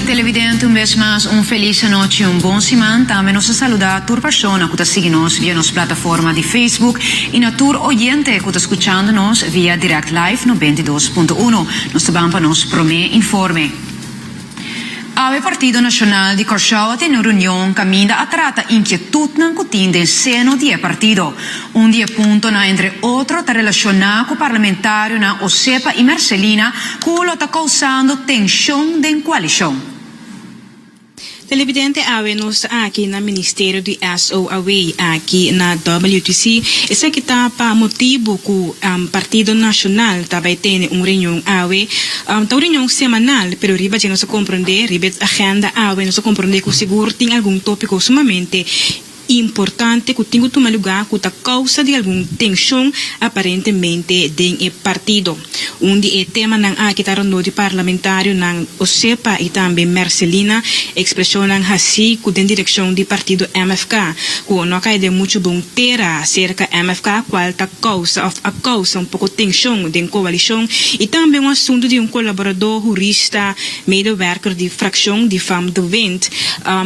Televidente un bes mas un felis anochi y un bon siman. Tambe nos ta saluda tur persona cu ta sigui nos via nos plataforma di Facebook y na tur oyente cu ta scuchando nos via Direct Live 92.1. Nos ta ban pa nos prome informe. Awe Partido Nacional di Kòrsou a tene un reunion kaminda a trata inkietutnan ku tin den seno di e partido. Un di e puntonan entre otro ta relashoná ku parlamentarionan Osepa i Mercelina ku lo ta kousando tenshon den koalishon. Televidente Awe nos ta aki na Ministerio di SO Away aki na WTC. Esaki ta pa motibu ku Partido Nacional ta bai tene un reunion awe. Ta un reunion semanal, pero riba dje nos a komprondé, riba e agenda awe, nos a komprondé ku sigur tin algun tópiko sumamente importante ku tin ku tuma lugá ku ta kousa di algun tenshon aparentemente den e partido. Un di e temanan aki ta rondó di parlamentarionan Osepa i tambe Mercelina, ekspreshonnan hasí ku den direkshon di partido mfk. Cu no a cay den mucho bun tera cerca MFK cual ta causa of a causa un poco tension den coalicion y tambe un asunto di un colaborador, jurista, medewerker di fraccion di Vam de Wind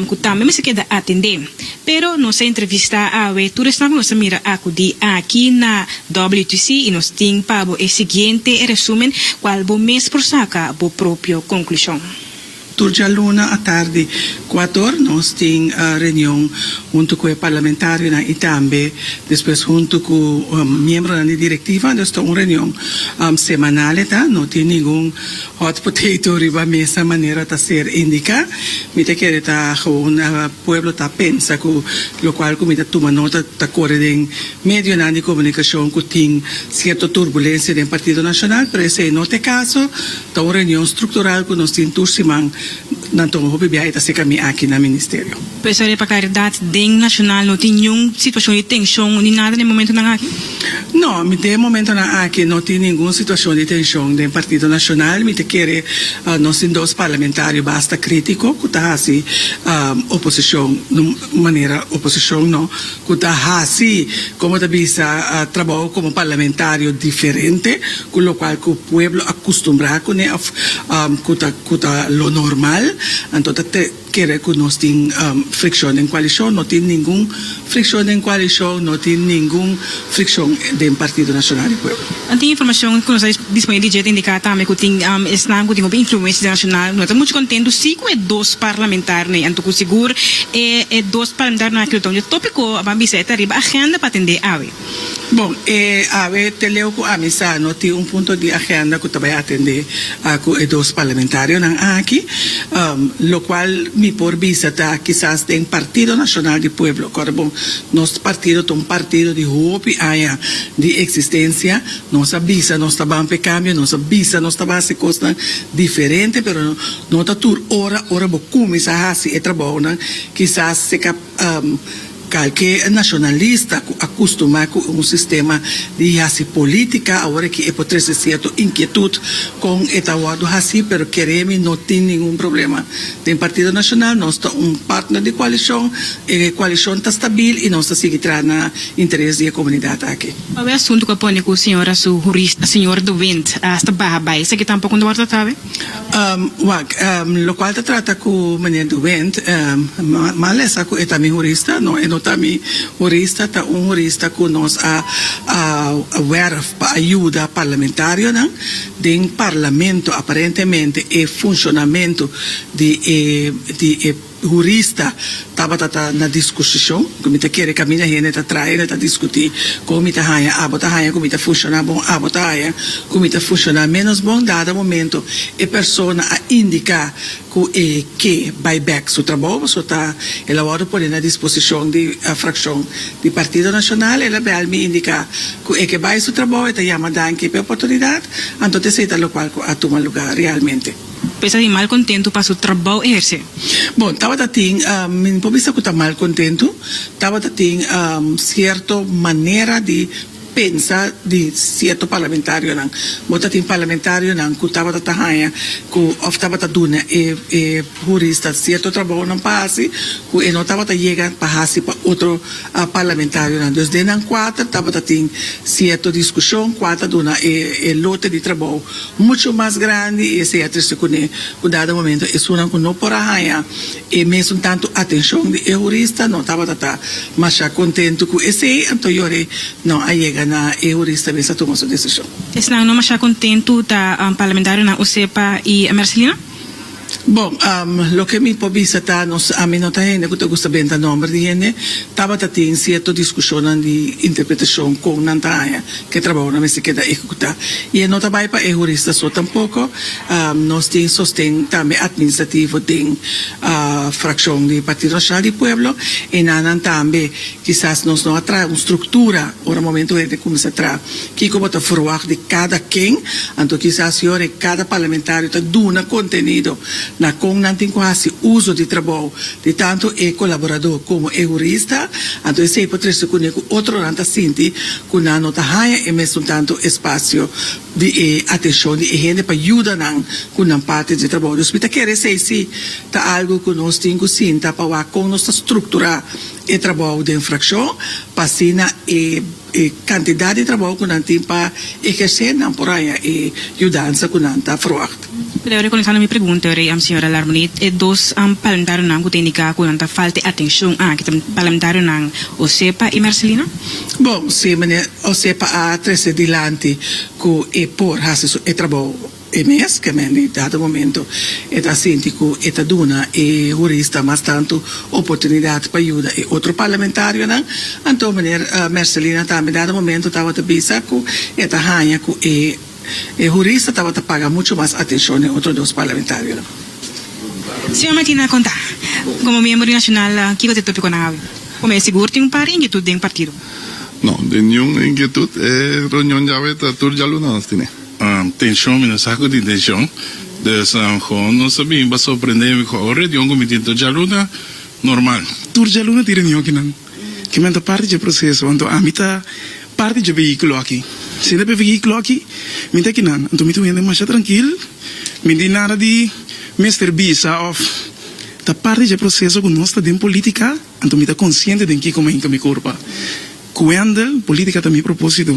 cu tambe mester keda atende. Pero nos a entrevista awe tur esnan cu nos a mira acudi aki na WTC y nos tin pa bo e siguiente resumen cual bo mes por saca bo propio conclusion. Tur djaluna atardi kuatu or nos tin reunion huntu ku e parlamentarionan i tambe despues huntu ku miembronan di direktiva. Nos ta un reunion semanal e ta, no tin ningun hot potato riba mesa manera ta ser indiká. Mi ta kere ta gewoon pueblo ta pensa ku lokual ku mi ta tuma nota ta kore den medionan di komunikashon ku tin sierto turbulensia den Partido Nashonal, pero esei no ta e kaso. Ta un reunion struktural ku nos tin tur siman. Nan tuma hopi biaha, e ta seka mi aki na Ministerio. P'esei e pa klaridat den Nashonal no tin niun situashon di tenshon ni nada den momentunan aki? No, mi den momentunan aki no tin ningun situashon di tenshon den Partido Nashonal. Mi ta kere nos tin dos parlamentario basta kritiko ku ta hasi oposishon, manera oposishon no. ku ta hasi, komo ta bisa, trabou komo parlamentario diferente ku lokual ku pueblo a kustumbrá kuné òf ku ta ku ta lo normal. Anto ta kere ku nos tin frikshon den koalishon? No tin ningun frikshon den koalishon, no tin ningun frikshon den Partido Nasional di Pueblo. Nan tin informashon ku nos a disponé di dje ta indiká tambe ku tin esnan ku tin hopi influensia internashonal. Nos ta muchu kontentu sí ku e dos parlamentarionan ei. Anto ku sigur e dos parlamentarionan aki lo ta un dje tópiko a ban bisa e ta riba agenda pa atendé awe. Bon, e awe te leu ku ami sa no tin un punto di agenda ku ta bai atendé ku e dos parlamentarionan aki. Lokual mi por bisa ta kisas den Partido Nacional di Pueblo. Kòrd'e bon, nos partido ta un partido di hopi aña di eksistensia. Nos a bisa nos ta ban p'e kambio, nos a bisa nos ta ban hasi kosnan diferente, pero no ta tur ora. Ora bo kuminsá hasi e trabounan, kisas se ka kalke nashonalista ku a kustumá ku un sistema di hasi polítika awor aki e por trese sierto inkietut kon e ta wòrdu hasi, pero kere mi no tin ningun problema den Partido Nashonal. Nos ta un partner di koalishon, e koalishon ta stabil i nos ta sigui traha na. interes di e comunidad aki. Awe asunto cu a pone cu Sra. Su Hurista, Sr. De Wint, a hasta baha bay, esaki tampoco no ta word trata awe? Wak, locual ta trata cu Meneer De Wint, mal e sa cu e ta mi Hurista? No, e no ta mi Hurista, ta un Hurista cu nos a werf pa a yuda Parlamentarionan den Parlamento, aparentemente e funcionamento di e. hurista tabata ta na diskusishon ku mi ta kere kaminda hende ta traha hende ta diskutí kon mi ta haña abo ta haña ku mi ta funshoná bon abo ta haña ku mi ta funshoná ménos bon dado momento e persona a indiká ku e ke bai bèk su trabou pasobra ta el a wòrdu pone na disposishon di frakshon di Partido Nashonal el a bèl mi indiká ku e ke bai su trabou e ta yama danki p'e oportunidat anto t'esei ta lokual ku a tuma lugá realmente. Pues a tin mal kontentu pa su trabou e hersé. Bon, tabata tin, mi no por bisa ku ta mal kontentu, tabata tin sierto manera di pensa di sierto parlamentarionan. Bo ta tin parlamentarionan ku tabata ta haña ku òf tabata duna e e hurista sierto trabounan pa hasi ku e no tabata yega pa hasi pa otro parlamentarionan. Dus den nan kuater tabata tin sierto diskushon kual ta duna e e lote di trabou Mucho mas grandi y esey a triste cune cu dado momento esunnan cu no por a haya e mesun tanto atencion di e jurista no tabata ta masha contento cu esey, anto yori no a yega na e jurista mester tuma su decision. Esnan no masha contento ta Parlamentarionan Osepa y Mercelino. Bo, loke mi por bisa ta, nos, ami no ta hende ku ta gusta benta nòmber di hende. Tabata tin sierto diskushonnan di interpretashon kon nan ta haña ku e trabahonan mester keda ehekutá. I e no ta bai pa e hurista so tampoko. Nos tin sosten tambe atministrativo den frakshon di Partido Nacional di Pueblo i nan nan tambe. Kisas nos no a traha un struktura ora momentu hende kuminsá traha kiko bo ta ferwagt di kada ken. Anto kisas yor e kada parlamentario ta duna kontenido na kon nan tin ku hasi uso di trabou di tantu e kolaboradó komo e hurista. Anto esei por trese kuné ku otronan ta sinti ku nan no ta haña e mesun tantu espasio di e atenshon di e hende pa yuda nan ku nan parti di trabou. Dus mi ta kere esei si ta algu ku nos tin ku sinta pa wak kon nos ta strukturá e trabou den frakshon pa asina e e kantidat di trabou ku nan tin pa ehersé nan por haña e yudansa ku nan ta ferwagt. Pero rekonesá na mi pregunta, rei am señora Larmony, e dos am parlamentarionan ku ta indiká ku nan ta falta e atenshon aki ta parlamentarionan Osepa i Marcelino? Bon, si meneer Osepa a trese dilanti ku e por hasi su e trabou. E mes kemen di dado momento e ta sinti ku e ta duna e hurista mas tantu oportunidat pa yuda e otro parlamentarionan, anto Meneer Mercelina tambe dado momento tabata bisa ku e ta haña ku e e hurista tabata paga muchu mas atenshon den otro dos parlamentarionan. Señor Martina konta, komo miembro di Nashonal kiko ta e topikonan awe? Komo e sigur tin un par di inkietut den partido. No, den niun inkietut, e reunion di awe ta tur djalunan nos tine. Tenshon, mi no sa ku tin tenshon. Dus hoon nos ta bini pa sorprendé mi ku awo reunion ku mi tin tur djaluna normal. Tur djaluna tin reunion kinan. Kimen ta parti dje proseso. Anto ami ta parti dje vehíkulo aki. Si no e vehíkulo aki mi ta kinan. Anto mi ta un hende masha trankil. Mi tin nada di mester bisa òf ta parti dje proseso ku nos ta den polítika. Anto mi ta konsiente den kiko mi hinka mi kurpa. Cuando politica ta mi propósito,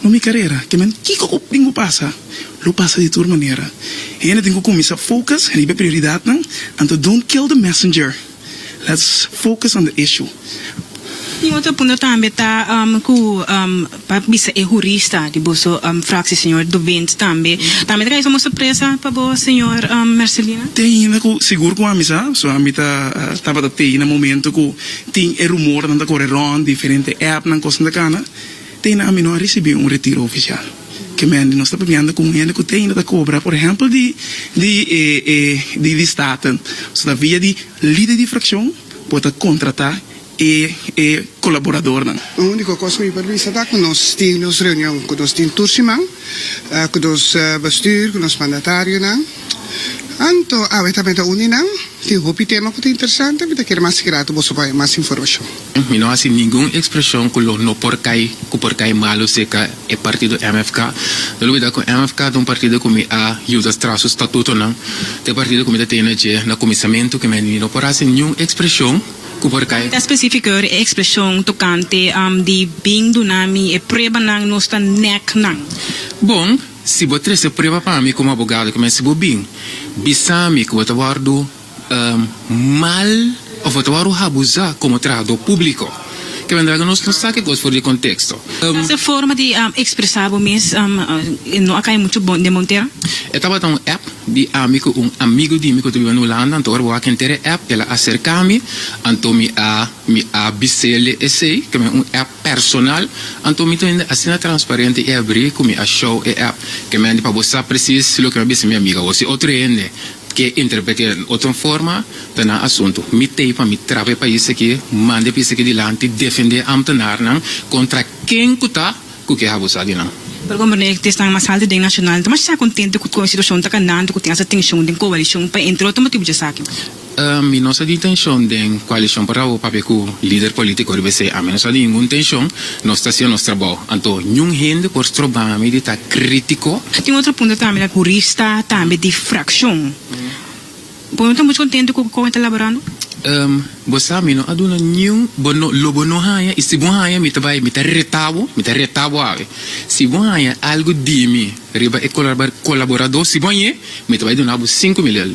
no mi carera, que men kico cu tin cu pasa, lo pasa di tur manera. Hende tin cu cuminsa focus riba e prioridadnan, anto don't kill the messenger, let's focus on the issue. Un otro punto tambe ta cu pa bisa e hurista di boso fracci, señor De Wint, tambe, tambe ta cay como sorpresa pa bo, señor Mercelina? Te ainda cu sigur cu ami sa, so ami ta tabata tey na momento cu Tin e rumornan ta kore rond diferente appnan kosnan ta kana te na ami no a risibi un retiro ofisial kemen di nos ta papiando ku un hende ku te ainda ta kobra por ehempel di di e e di di state so ta via di lider di frakshon por ta kontrata e e kolaboradornan. Un uniko kos ku mi por bisa ta ku nos tin nos reunion ku nos tin tur siman ku nos bestuur ku nos mandatarionan. Anto awe ta meda uni nan. Tin hopi tema cu ta interesante. Mi ta kere mas sigui rato boso baña mas informacion. Mi no haci ningun expresion cu lo no por cay, cu por cay malo cerca e partido mfk. No olbida cu mfk ta un partido cu mi a yuda stra su statutonan. Ta e partido cu mi ta tene dje na cuminsamentu cu mi a di mi no por haci niun expresion cu por cay. Mi ta specificar e expresion tocante di bin duna mi e pruebanan nos ta nek nan. Bon. Si bo trese prueba pa mi komo abogado ku mester bo bin bisa mi ku bo ta wòrdu mal òf bo ta wòrdu habusá komo trahadó públiko. Ke manera ku nos no sa ke kos for di konteksto. Mas e forma di ekspresá bo mes no a kai muchu bon den Montero? E tabata un app di ami ku un amigu di mi ku ta biba na Hulanda, anto ora bo wak enter e app el a aserká mi, anto mi a mi a bis'el di esei ke mi un app. Personal, anto mi ta hende asina transparente i abrí ku mi a show e app ke mi a hende pa bo sa presis loke mi a bisa mi amiga bo. Si otro hende ke interpret'é den otro forma, ta nan asuntu. Mi t'ei pa mi traba e pais akí, manda e pais akí dilanti, defendé ámtenarnan kontra ken ku ta ku ke habusá di nan. Pero kon Bernabe ta esnan mas altu den nashonal, ta mashá kontentu ku kon e situashon ta kandando ku tin asa tenshon den koalishon pa entre otro motibu dje esaki. Mi no sa di tenshon den koalishon por awo papia ku lider polítiko riba esei. Ami no sa di ningun tenshon. Nos ta haciendo nos trabou. Anto niun hende por stroba mi di ta krítiko. A tin otro punto tambe na hurista tambe di frakshon. Bo no ta much kontentu ku kon e ta laborando? Bo sa mi no a duna niun bo no lo bo no haña i si bo haña mi ta bai mi ta reta bo mi ta reta bo awe si bo haña algu di mi riba e kolaboradó si bo hañ'é mi ta bai duna bo sinku mil el.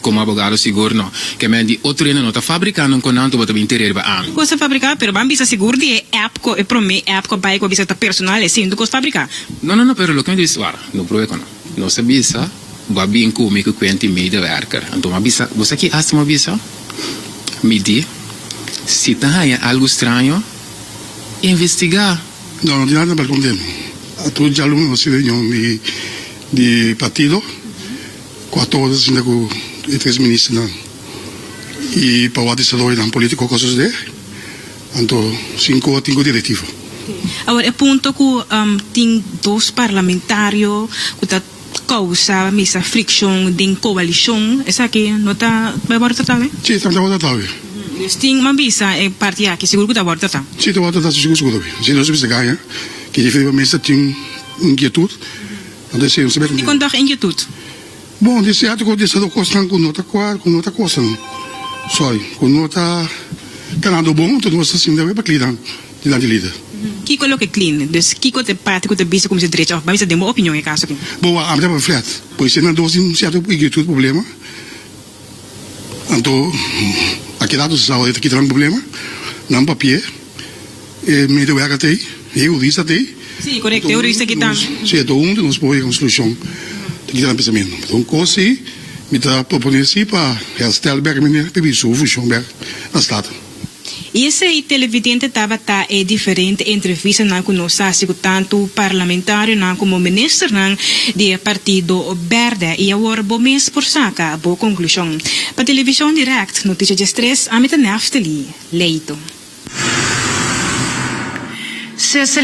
Komo abogado sigur no. Ke men di otro hende no ta fabriká non konan tu bo ta bin terer bo an. Kosa fabriká pero ban bisa sigur di e app ko e promé app ko bai ko bisa ta personal e sintu kos fabriká. No no no pero loke mi ta bisa wak no proe kono. Nos a bisa bo a bin ku mi ku kuenti medewerker anto mi a bisa bo sa ki asta mi a bisa mi di si ta haña algu straño investigá. No no tin nada balkon den a tur djalun no si reunion di di partido. Cu a todo ta sinta cu e tres ministernan y pa wak desaroyonan politico cosa sucede, anto sin cu a tin cu directiva. Awor e punto cu tin dos parlamentario cu ta causa mester friccion den coalicion, esaki no ta bay worde trata awe? Si, ta bay worde trata awe. Dus tin man bisa e parti aki sigur cu ta worde trata? Si, ta worde trata sigur sigur awe. Asina nos a bisa gaña, kier diferi pa mester tin un inquietud. Di kondag inkietut. Bon, di serto ku disa do kosnan ku no ta kual, ku no ta kosan. Soi, ku no ta kanado bon, anto nos ta sinti awe pa klinan dilanti lider. Kiko loke klin? Dus kiko ta e parti ku ta bisa ku mi ta drecha òf bai? Mi ta den bo opinion e kaso aki. Bo a habra pa flat. Por isei nan dos tin un serto inkietut, problema. Anto a keda dos esau e ta kita nan problema, nan papi'e. E medewerker t'ei, e hurista t'ei. Sí, correcto, e hurista aki ta. Sí, enton huntu nos por yega un solucion di kico nan a pensamentu. Enton un cos si mi ta propone si pa herstel bek mi ne p'e su funcion bek na stad. I esei televidente tabata e diferente entrevistanan cu nos a haci cu tantu parlamentarionan como ministernan di e Partido Berde. I awor bo mes por saca bo conclusion. Pa Television Direct, Noticia Dje Stres, ami ta Neftali. leito.